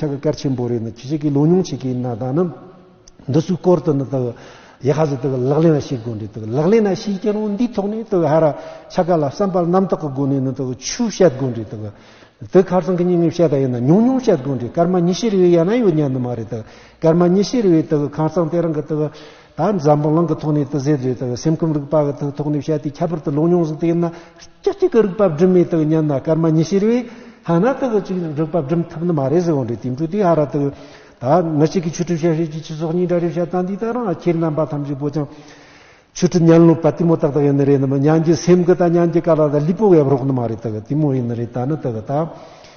ཆ་གི་སྐར་ཆེན་པོ་རེ་ནི་ཁྱེད་ཅག་གིས་ལོ་ཉུང་བྱེད་ཀྱི་ན་ད་ནམ། འདི་ཚོའི་སྐོར་དུ་ནི་དག་ཡེ་ཧ་ཟི་དག་ལག་ལེན་ལ་ཤེས་དགོས་འདི་དག་ལག་ལེན་ལ་ཤེས་ཀྱི་རུང་འདིའི་ཐོག་ནས་དག་ཧ་ར་ཆ་ག་ལ་བསམ་པར་རྣམ་དག་གི་སྒོ་ནས་ནི་དག་ཆུ་བཤད་དགོས་འདི་དག་དེ་ཁར་སང་གི་ཉིན་ངས་བཤད་ད་ཡིན་ན་ཉུང་ཉུང་བཤད་དགོས་འདི་སྐར་མ་ཉི་ཤེས་རེ་བའི་ཡ་ན་ཡོད་ཉན་ནི་མ་རེད་དག་སྐར་མ་ཉི་ཤེས་རེ་བའི་དག་ཁང་བཟང་དེ་རང་གི་དག། ད་འཛམ་བུ་གླིང་གི་ཐོག་ནས་ཏི་ཟེར་བཟོས་དང་སེམས་ཁམས་རིག་པ་གི་ཐོག་ནས་བཤད་དེ་ཁྱད་པར་དུ་ལུང་རྙོང་ཟིག་དེ་ཡིན་ན་སྐྱིད་སྐྱིད་ཀྱི་རིག་པ་སྒྲིམ་མེད་དུ་ཉན་ན་སྐར་མ་ཉི་ཤེར་བས་ཧ་ན་ཏི་གི་ཅིག་རིག་པ་སྒྲིམ་ཐུབ་ནི་མ་རེད་ཟེར་བ་འདྲའི་དེང་དུས་དེ་ཧ་ར་ཏི་ད་མི་གཅིག་གིས་ཆོས་གྲུབ་བྱ་ཤེས་ཀྱི་ཆུ་སོགས་གཉིས་འདྲ་རེད་བཤད་སྟངས་འདི་ལྟར་ང་ཁྱེད་རྣམ་པ་ཐམས་ཅད་པོ་ཅང་ཆོས་གྲུབ་སྙན་ལོ་པ་དེ་མོ་ཏག་ཏག་ཡིན་ནི་རེད་ནི་མི་སྙན་གྱི་སེམས་ཀྱི་དང་སྙན་གྱི་ཀ་ལ་ད་ལུས་པོ་བས་རོགས་ནི་མ་རེད་ཏི་གི་དེ་མོ་ཡིན་ནི་རེད་ད་ནི་ཏི་གི་ད།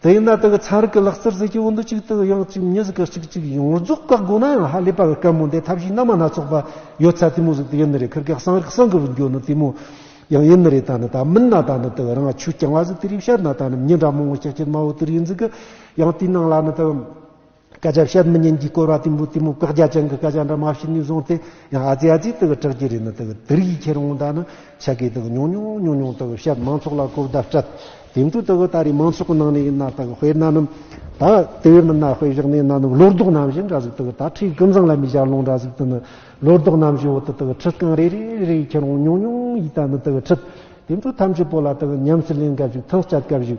དེ་ཡིན་ན་དེ་གི་ཚན་རིག་གི་ལག་རྩལ་ཟེར་གྱི་བོད་འདི་གཅིག་དུ་ཡང་གཅིག་མྱི་ཟེར་གི་གཅིག་གཅིག་ཡོངས་རྫོགས་བཀག་དགོས་ན་ཡང་ཧ་ལས་པ་གི་སྐད་མོ་འདི་ཐབས་ཤེས་སྣ་མ་སྣ་ཚོགས་པ་ཡོད་ཚད་དེ་མོ་ཟིག་དེ་ཡིན་ནི་རེད་ཁིར་ཀེག་སང་རིག་སང་གི་བུ་འགྱོ་ནི་དེ་མོ་ཡང་ཡིན་ནི་རེད་ད་ནི་ད་མིན་ན་ད་ནི་དེ་གི་རང་ཆུ་རྐྱང་བ་ཟིག་དེ་རིག་བཤད་ན་ད་ནི་མྱི་འདྲ་མོང་བོ་ཆགས་ཆེ་དམའ་བོ་དེ་རིག་ཡིན་ཟིག་གི་ཡང་དེའི་ནང་ལ་ནི་དེ་སྐད་ཆ་བཤད་མི་ཉན་གྱི་སྐོར་བ་དུམ་བུ་དུམ་བུ་བཀག་རྒྱ་ཅན་གྱི་སྐད་ཆ་འདྲ་མ་བྱས་ནས་བཟུང་སྟེ་ཡང་ཨ་ཙི་ཨ་ཙི་དག་གྲགས་ཀྱི་རེད་ན་དག་དེར་ཡིད་ཁྱེར་འོང་ད་ནི་ཆ་སྐད་དག་ཉུང་ཉུང་ཉུང་ཉུང་དག་བཤད་མང་ཚོགས་ལ་གོ་བརྡ་སྤྲད་དེ་མཐུ་དག་ད་རེས་མང་ཚོགས་ནང་ནས་ཡིན་ན་དག་དཔེར་ན་ནི་ད་དེ་མིན་ན་དཔེ་བཞག་ནས་ན་ནི་བློ་ལྡོག་རྣམ་བཞི་འདྲ་ཟིག་དག་ད་ཁྲིའི་ཀུན་བཟང་ལ་མི་ཞབས་ལོང་འདྲ་ཟིག་དེ་ནི་བློ་ལྡོག་རྣམ་བཞི་འོག་ཏུ་དག་ཁྲི་རྐང་རེ་རེ་རེ་ཡིད་ཁྱེར་འོང་ཉུང་ཉུང་ཡིད་ད་ནི་དག་ཁྲི་དེ་མཐུ་ཐམས་ཅད་པོ་ལ་དག་ཉམས་སུ་ལེན་སྐབས་ཞིག་ཐང་སྐྱ་སྐབས་ཞིག་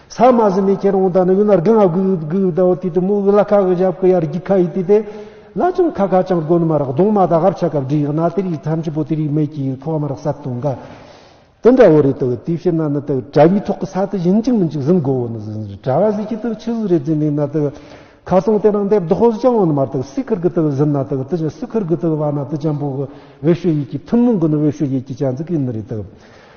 ས་མ་ཟི་མི་ཁྱེར་འོང་དང་ནི་ཡུལ་ན་རྒན་ཨ་གུ་ཡུ་གུ་ཡུ་དའོ་དུས་དུ་མུ་གུ་ལ་ཁ་གི་ཞབས་གུ་ཡར་རྒྱུག་ཁ་ཡི་དུས་དེ། ལ་ཅང་ཁ་ཁ་ཅང་གོན་མ་རག་གདོང་མ་དག་ཧབ་ཆ་གབ་འདྲི་ཡག་ན་དེ་རིགས་ཐམས་ཅད་པོ་དེ་རིགས་མེད་ཀྱི་ཡུལ་ཁོག་མ་རག་ས་དུ་འགའ། དེ་འདྲ་བོ་རེད་དོ་དུས་ཕྱི་ན་ནི་དུ་དྲ་བའི་ཐོག་གི་ས་དུ་བཞིན་གཅིག་མིན་གཅིག་ཟིན་གོ་བོ་ནི་ཟིན་ཟིན་དྲ་བ་ཟིན་གྱི་དུ་ཆུ་ཟིན་རེ་རྫི་ནི་ན་དུ། ཁ་གསང་དེ་རང་འདེབས་དོག་ཟིན་ཅང་འོན་མ་ར་དུ་སི་ཁུར་གི་དུ་ཟིན་ན་དུ་དུ་ཆུ་སི་ཁུར་གི་དུ་བ་ན་དུ་ཅང་པོ་གི་བེ་ཤུ་ཡིག་གི་ཐུན་མོང་གི་ནི་བེ་ཤུ་ཡིག་གི་ཅང་ཙི་གི་ནི་རེད་དུ།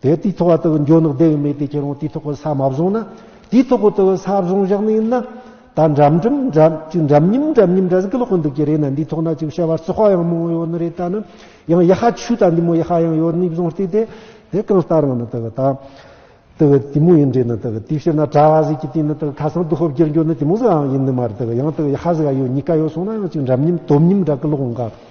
དེ་དུས་ཐོག་དེ་འཇོག་ནག་བདེ་བས་མེད་དེ་ཁྱེད་རང་དུས་ཐོག་ས་མ་བཟུང་ན་དུས་ཐོག་དེ་ས་བཟུང་བཞག་ནས་ཡིན་ན། ད་འགྲམ་འགྲམ་འགྲམ་ཅིག་འགྲམ་ཉིམ་འགྲམ་ཉིམ་འདྲ་ཟིག་ཀློག་གི་འདུག་གི་རེད་ན་འདི་ཐོག་ན་ཅིག་བཤད་པ་རྩི་ཤོག་ཡང་མང་ཡོད་ནི་རེད་ད་ནི་ཡང་ཡ་ཧ་ཆུ་ད་འདི་མོ་ཡ་ཧ་ཡང་ཡོད་ནི་བཟུང་བལྟས་དེ་དེ་གང་ལྟར་ཡང་ནི་དེ་གི་ད་དེ་གི་དེ་མོ་ཡིན་དྲན་ནི་དེ་གི་དུས་བཤད་ན་གྲ་བ་ཟིག་གི་དུས་ནི་དེ་གི་ཁ་སང་དུ་ཧོབ་བསྒྱུར་འགྱུར་ནི་དེ་མོ་ཟིག་ཡང་ཡིན་ནི་མ་རེད་དེ་གི་ཡང་དེ་གི་ཡ་ཧ་ཟིག་ཡ་ཡོད་གཉིས་ཀ་ཡོད་སོང་ན་ཡང་ཅིག་འགྲམ་ཉིམ་དོམ་ཉིམ་འདྲ་ཀི་ཀློག་འགའ།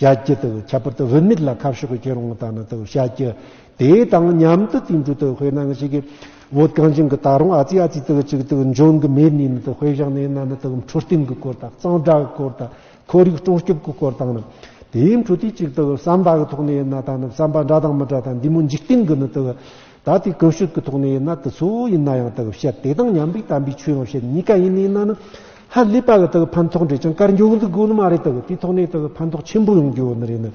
བྱ་རྒྱུ་དང་ཁྱད་པར་དུ་བུད་མེད་ལ་ཁ་ཕྱོགས་ཀྱི་ཁྱེད་རང་དང་ནི་དང་བྱ་རྒྱུ། དེ་དང་མཉམ་དུ་དུས་འགྲོ་དང་དཔེར་ན་ནི་ཞིག་གིས་བོད་གངས་ཅན་གྱི་ད་རུང་ཨ་ཙི་ཨ་ཙི་དང་ཅིག་དང་འབྱུང་གི་མེད་ནས་ནི་དང་དཔེ་བཞག་ནས་ན་ནི་དང་འཕྲོད་བསྟེན་གྱི་སྐོར་དང་གཙང་སྦྲ་གི་སྐོར་དང་ཁོར་ཡུག་སྲུང་སྐྱོབ་ཀྱི་སྐོར་དང་ནི་དེའི་འཕྲོད་བསྟེན་ཅིག་དང་བསམ་པ་གི་ཐོག་ནས་ན་ད་ནི་བསམ་པ་འདྲ་དང་མི་འདྲ་དང་འདི་མོ་འཇིག་རྟེན་གྱི་ནི་དང། ད་ལྟའི་བཀོལ་སྤྱོད་ཀྱི་ཐོག་ནས་ཡིན་ན་དེ་ཚོ་ཡིན་ན་ཡང་དག་བཤད་དེ་དང་མཉམ་པའི་དམ་པའི་ཆོས་ཡང་བཤད་གཉིས་ཀ་ཡིན་ནི་ཡིན་ན་ཧ་ལས་པ་གི་དག་ཕན་ཐོགས་འབྲས་ཀྱང་དཀར་འགྱུར་འདུག་དགོས་ནི་མ་རེད་དག་དེའི་ཐོག་ནས་དག་ཕན་ཐོགས་ཆེན་པོ་ཡོང་རྒྱུ་ནི་རེད་ནི།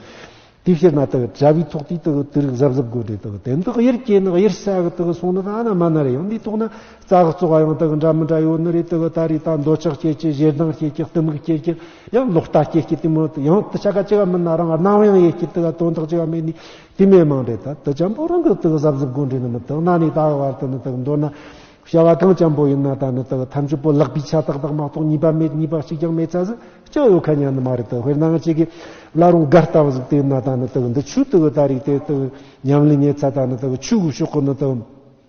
དེ་བཤད་ན་དག་བྱ་བའི་ཐོག་དེའི་དག་དུས་རིག་གཟབ་གཟབ་དགོས་འབྲས་དག་དེ་འདི་གཡེར་སྐྱེས་ནི་གཡེར་ས་གི་དག་སོང་ནི་ད་ན་མ་ན་རེ་ཡང་དེའི་ཐོག་ན་རྩ་གཙོ་བ་ཡང་དག་འདྲ་མི་འདྲ་ཡོད་ནི་རེད་དག་ད་རེས་ད་འདོད་ཆགས་སྐྱེས་ཀྱི་ཞེ་སྡང་སྐྱེས་ཀྱི་གཏི་མུག་སྐྱེས་ཀྱི་ཡང་ལོག་ལྟ་སྐྱེས་ཀྱི་དེ་མོད་ཡང་དུ་ཆ་ག་ཅི་ག་མིན་ན་རང་སྣང་ཡང་ཡེ་ཤེས་དག་དོན་དག་ཅི་ག་མེད་ནི་དེ་མི་མང་པའི་ད་ལྟ་ཅམ་པོ་རང་གི་དག་གཟབ་གཟབ་གོ་འདྲི་ནི་མི་དག་ན་ནི་དག་བར་དུ་ནི་དག་མདོར་ན། བྱ་བ་གང་ཅམ་པོ་ཡིན་ན་ད་ནི་དག་ཐམས་ཅད་པོ་ལག་པའི་ཆ་དག་དག་མ་གཏོགས་གཉིས་པ་མེད་གཉིས་པ་གཅིག་ཀྱང་མེད་ཚ་ཟིག་ཅིག་ཡོད་ཁ་ཉན་ནི་མ་རེད་དག་དཔེར་ན་ང་གཅིག་གིས་བླ་རུང་སྒར་ལྟ་བུ་ཟིག་དེ་ན་ད་ནི་དག་འདི་ཆུ་དག་ད་རིགས་དེ་དག་ཉམས་ལེན་ཉེ་ཚ་ད་ནི་དག་ཆུ་གུ་ཤོག་གོ་ནི་དག།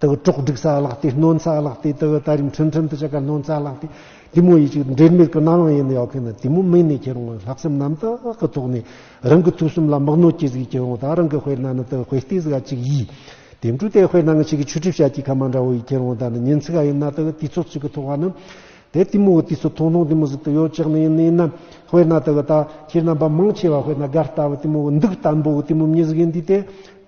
དེ་གི་གྲོགས་སྒྲིག་ས་བརླག་སྟེ་གནོན་ས་བརླག་སྟེ་དེ་གི་ད་རིང་ཁྲིམས་ཁྲིམས་དུ་ཆེ་ག་གནོན་ས་བརླག་སྟེ་དེ་མོ་ཡིད་ཅིག་འབྲེལ་མེད་གི་རྣ་ལོང་ཡེ་ནས་ཡོག་གི་ནི་དེ་མོ་མིག་ནས་ཁྱེར་འོང་བའི་ལྷག་བསམ་རྣམ་དག་གི་ཐོག་ནས་རང་གི་ཐུགས་གསུམ་ལ་དམག་ནོར་གྱི་གཟིགས་ཀྱི་འོང་དག་རང་གི་དཔེར་ན་ནི་དེ་གི་དཔེ་སྟེ་གཟིགས་ག་ཅིག་ཡིས་དེ་འདྲུ་དེ་དཔེར་ན་ང་ཅིག་གི་ཆུ་གྲིབ་ཤ་གྱི་ཁ་མ་འདྲ་བོ་ཡིས་ཁྱེར་འོང་དག་ནི་ཉིན་ཚིག་ག་ཡིན་ན་དེ་གི་དུས་ཚོད་ཅིག་གི་ཐོག་ག་ནི་དེ་དེ་མོ་གི་དུས་ཚོད་ཐུང་ཐུང་དེ་མོ་ཟིག་ཏུ་ཡོད་ཅག་ནི་ཡིན་ནི་ཡིན་ན་དཔེར་ན་དེ་གི་ད་ཁྱེད་རྣམ་པ་མང་ཆེ་བ་དཔེར་ན་དགའ་ལྟ་བུ་དེ་མོ་གི་འདུག་ལྟ་འབུ་གི་དེ་མོ་མྱི་ཟིག་ཡིན་དུས་དེ་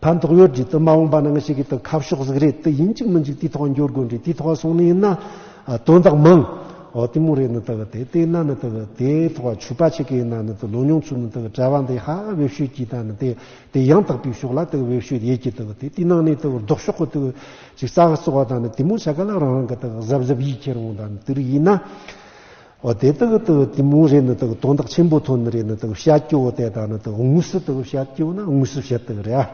ཕན་ཐོགས་ཡོད་རྒྱུ་དུ་མ་འོངས་པ་ནང་ཞིག་གི་དུ་ཁ་ཕྱོགས་གཟིགས་རེད་དུ་ཡིན་གཅིག་མི་འཇུག་དུས་ཐོག་འགྱོ་དགོས་འདྲི་དུས་ཐོག་སོང་ནི་ཡིན་ན་དོན་དག་མང། འོ་དུས་མོ་རེད་ནི་དུ་དེ་དེ་ན་ནི་དུ་དེ་ཐོག་ཆུ་པ་ཆེ་གི་ཡིན་ན་ནི་དུ་ལོ་ཉུང་ཚུལ་ནི་དུ་གྲྭ་བ་འདི་ཧ་བེབས་ཤོད་ཀྱི་ད་ནི་དེ་དེ་ཡང་དག་པའི་ཕྱོགས་ལ་དུ་བེབས་ཤོད་ཡེད་ཀྱི་དུ་དེ་དུས་ནང་ནི་དུ་ལྡོག་ཕྱོགས་གི་དུ་ཅིག་ཙག་གི་བཙོ་བ་ད་ནི་དུས་མོ་ཆ་ག་ལ་རང་རང་གི་དུ་གཟབ་གཟབ་ཡིད་ཁྱེར་འོང་ད་ནི་དུ་རིགས་ཡིན་ན། འོ་དེ་དག་ཏུ་དེ་མོ་རེ་ནི་དག་དོན་དག་ཆེན་པོ་ཐོན་རེ་ནི་དག་བཤད་ཀྱི་འོ་དེ་དག་ནི་དག་དངོས་སུ་དག་བཤད་ཀྱི་འོ་ན་དངོས་སུ་བཤད་དག་རེ་ཨ།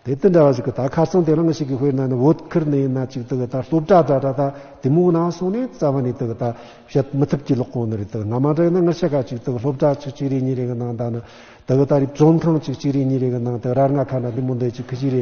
དེ་དེ་འདྲ་བ་ཞིག་གི་དག་ཁ་སང་དེ་རང་ཞིག་གི་དཔེར་ན་ནི་བོད་ཁུལ་ནས་ན་ཅིག་དག་ད་སློབ་གྲྭ་འདྲ་འདྲ་དག་དེ་མོ་ན་སོང་ནས་རྩ་བ་ནས་དག་ད་བཤད་མི་ཐུབ་ཀྱི་ལོག་གོང་ནི་རེ་དག་ན་མ་འདྲ་ཡིན་ན་ང་ཤ་ཁ་ཅིག་དག་སློབ་གྲྭ་ཆིག་གཅིག་རེ་གཉིས་རེ་གི་ནང་དག་ནི་དག་ད་རིབ་བཙོན་ཁང་ཆིག་གཅིག་རེ་གཉིས་རེ་གི་ནང་དེ་རར་ང་ཁ་ན་དེ་མོ་འདི་ཅིག་གི་ཅིག་རེ་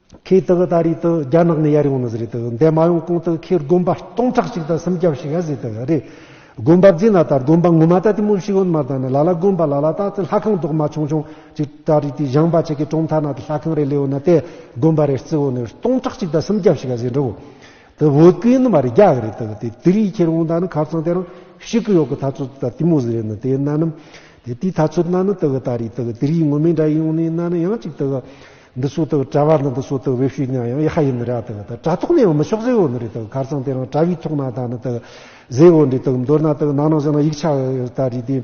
ཁོས་དེ་ག་ད་རེས་དེ་རྒྱ་ནག་ནས་ཡར་ཡོང་ནི་ཟེར་རེད་དེ་འདས་མ་ཡོང་གོང་དེ་ཁོས་དགོན་པ་སྟོང་ཕྲག་གཅིག་དང་སུམ་བརྒྱ་བྱིས་ཡར་བཟོས་དེ་རེད། དགོན་པ་བརྫིས་ན་ད་དགོན་པ་ངོ་མ་ད་དེ་མུ་བཞི་ཡོད་མ་ད་ནི་ལ་ལ་དགོན་པ་ལ་ལ་ད་དེ་ལྷ་ཁང་རྡོག་མ་ཆུང་ཆུང་གཅིག་ད་རེས་དེ་བཞེངས་པ་ཆེ་གེ་གྲོང་མཐའ་ན་དེ་ལྷ་ཁང་རེ་ལས་ཡོད་ན་དེ་དགོན་པ་རེ་རྩི་བོ་ནི་སྟོང་ཕྲག་གཅིག་དང་སུམ་བརྒྱ་བྱིས་ཡར་བཟོས་འགྲོ་བོ། དེ་བོད་སྐད་ཡིན་ནི་མ་རེད་རྒྱ་གི་རེད་དེ་དེ་རིས་ཁྱེར་འོང་ད་ནི་ཁ་བཙང་དེ་རང་ཤི་གི་ཡོད་གི་ད་ཚོད་དེ་ད་དེ་མུ་ཟེར་ཡོད་ནི་དེ་ན་ནི་དེ་དེའི་ད་ཚོད་ན་ནི་དེ་ག་ད་རེས་དེ་ག་དེ་རིས་ངོ་མས་འདྲ་ཡོང་ནི་ན་ནི་ཡང་གཅིག་དེ་ག་འདི་སོ་དག་གྲྭ་བ་ནི་འདི་སོ་དག་བེ་ཤུས་ཉང་ཡང་ཡེ་ཧ་ཡིན་ནི་ར་དག་དག་གྲྭ་ཐོག་ནས་འོ་མི་ཤོག་ཟེ་འོ་ནི་རི་དག་གར་ཚང་དེ་རང་གྲྭ་བའི་ཐོག་ན་དག་ནི་དག་ཟེ་འོ་འདི་དག་མདོར་ན་དག་ནང་ནང་བཞིན་ན་ཡིག་ཆ་དག་རིགས་དེ་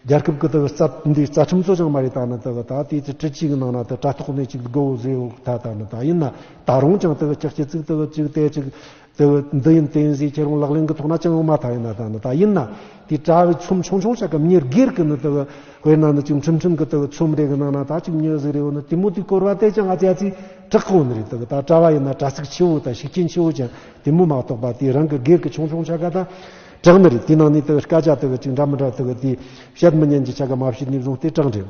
རྒྱལ་ཁབ་ཀི་དག་རྩ་འདི་རྩ་ཁྲིམས་གཙོ་ཆང་མ་རེ་དག་ནི་དག་དག་དེ་ཚེ་ཁྲི་གཅིག་ནང་ན་དག་གྲྭ་ཐོག་ནས་ཅིག་དགུ་འོ་ཟེ་འོ་དག་དག་ནི་དག་ཡིན་ན་དག་རང་ཅང་དག་ཅག་སྐྱི་ཚིག་དག་ཅིག་གཏད་ཅིག། དེ་བས་འདི་ཡིན་བསྟན་བྱའི་ཁྱད་རང་ལག་ལེན་གྱི་ཐོག་ན་ཅང་ཡང་མ་མཐའ་ཡིན་ན་ད་ནི་ད་ཡིན་ན་དེ་དྲ་བའི་ཚོམས་ཆུང་ཆུང་བྱ་སྐབས་ཉེར་སྒེར་གྱི་ནི་དེ་བས་དཔེར་ན་ནི་ཅིག་འཕྲིན་ཕྲན་གྱི་དེ་བས་ཚོམས་རེ་གི་ནང་ན་ད་ཅིག་མྱོས་ཟེར་རེ་བ་ནི་དེ་མོ་དེ་བསྐོར་བ་དེ་ཅང་ཨ་ཅག་ཚིག་གྲགས་གང་ནི་རེད་དེ་བས་ད་དྲ་བ་ཡིན་ན་དྲ་ཚིགས་ཆེ་བོ་དང་ཤུགས་རྐྱེན་ཆེ་བོ་ཅན་དེ་མོ་མ་གཏོགས་པ་དེ་རང་གི་སྒེར་གྱི་ཆུང་ཆུང་བྱ་དགའ་དང་གྲགས་ནི་རེད་དེའི་ནང་ནས་དེ་བས་སྐད་ཆ་དེ་བས་ཅིག་འདྲ་མི་འདྲ་དེ་བས་དེ་བཤད་མི་ཉན་གྱི་བྱ་དགའ་མ་བྱས་ནས་བཟུང་སྟེ་གྲགས་འགྲེལ།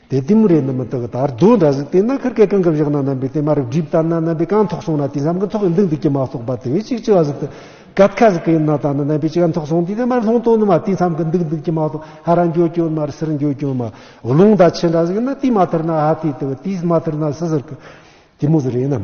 དེ་ལྟས་མོ་རེད་ནི་མི་དག་དར་རྡོ་འདྲ་ཟིག་དེས་ན་ཁར་སྐད་གང་གི་བཞག་ན་རྣམ་པའི་དེ་མ་རབ་སྒྲིབ་ལྟར་ན་རྣམ་པའི་གང་ཐོག་སོང་ན་དེ་བསམ་གི་ཐོག་གི་མདུང་དེ་ཀྱི་མ་གཏོགས་པ་དེ་བས་ཅིག་ཅི་བ་ཟིག་དུ་གད་ཁ་ཟིག་གི་ཡིན་ན་ད་ནི་རྣམ་པའི་ཅི་གང་ཐོག་སོང་དུས་དེ་མར་ལྷོང་དོ་ནི་མ་དེ་བསམ་གི་མདུག་མདུག་ཀྱི་མ་གཏོགས་ཧ་ར་འགྱོ་གྱོ་མར་སིར་འགྱོ་གྱོ་མ་རླུང་ད་ཆེ་འདྲ་ཟིག་ཡིན་ན་དེ་མ་ཐར་ན་ཧ་དེ་དེ་བ་དེས་མ་ཐར་ན་སི་ཟིར་གི་དེ་མོ་ཟི་རེད་ནམ།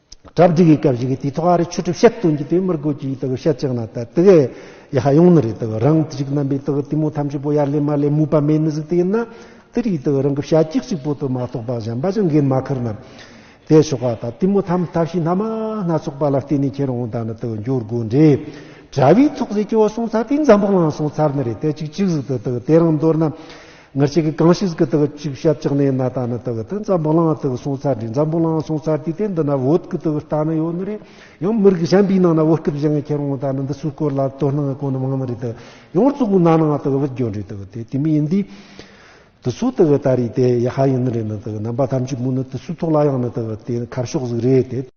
གྲ་བསྒྲིག་གི་སྐབས་ཤིག་གི་དུས་ཐོག་ཨ་རིའི་ཆོས་གྲུབ་བཤད་སྟོན་གྱི་དུས་མིར་དགོས་ཀྱི་དགོས་བཤད་ཅིག་གནང་སྟེ་དགེ་ཡ་ཧ་ཡོང་ནི་རེད་དགོས་རང་དུ་ཅིག་རྣམ་པའི་དགོས་དེ་མོ་ཐམས་ཅད་པོ་ཡར་ལེན་མར་ལེན་མུས་པ་མེད་ནི་ཟིག་དེ་ཡིན་ན་དེ་རིགས་དགོས་རང་གི་བཤད་ཅིག་ཅིག་པོ་དུ་མ་རྟོགས་པ་གཞན་པ་ཅང་འགན་མ་ཁུར་ན་དེ་ཆོག་ག་ད་དེ་མོ་ཐམས་ལྟ་བཤིག་སྣ་མ་སྣ་ཚོགས་པ་ལ་བརྟེན་ནས་ཁྱེད་རང་དག་ནི་དགོས་འགྱུར་དགོས་འདྲའི་གྲ་བའི་ཚོགས་ཟེར་གྱི་བ་སོང་ཚར་དེ་འཛམ་བུ་བླངས་སོང་ཚར་ནི་རེད་དེ་ཅིག་ཅིག་ཟིག་དུ་དགོས་དེ་རང་མདོར་ན། ངར་ཅིག་གིས་གང་ཞིག་གི་དག་ཅིག་བྱབ་ཅག་ནའི་ན་ད་ནི་དག་ཏི་འཛམ་བུ་ལང་དག་སོང་ཚར་དྲི་འཛམ་བུ་ལང་སོང་ཚར་དུས་དེ་འདི་ན་བོད་ཀི་དག་རྟ་ནི་ཡོད་ནི་རེད་ཡང་མི་རིགས་གཞན་པའི་ནང་ན་བོད་སྐད་བཞི་ངས་ཁྱེར་འོང་ད་ནི་འདི་སུའི་སྐོར་ལ་དོ་སྣང་གོ་ནི་མང་ནི་རེད་དག་ཡང་གཙུག་གི་ན་ནང་དག་བུད་གྱོད་རེད་དག་དེ་དེ་མི་ཡིན་དུས་དུ་སུ་དག་ད་རེད་དེ་ཡ་ཧ་ཡིན་ནི་རེད་ནི་དག་རྣམ་པ་ཐམས་ཅད་མུ་ནི་དུ་སུའི་ཐོག་ལ་ཡང་ནི་དག་དེ་ནི་ཁ་ཕྱོགས་ཟིག་རེད་དེ།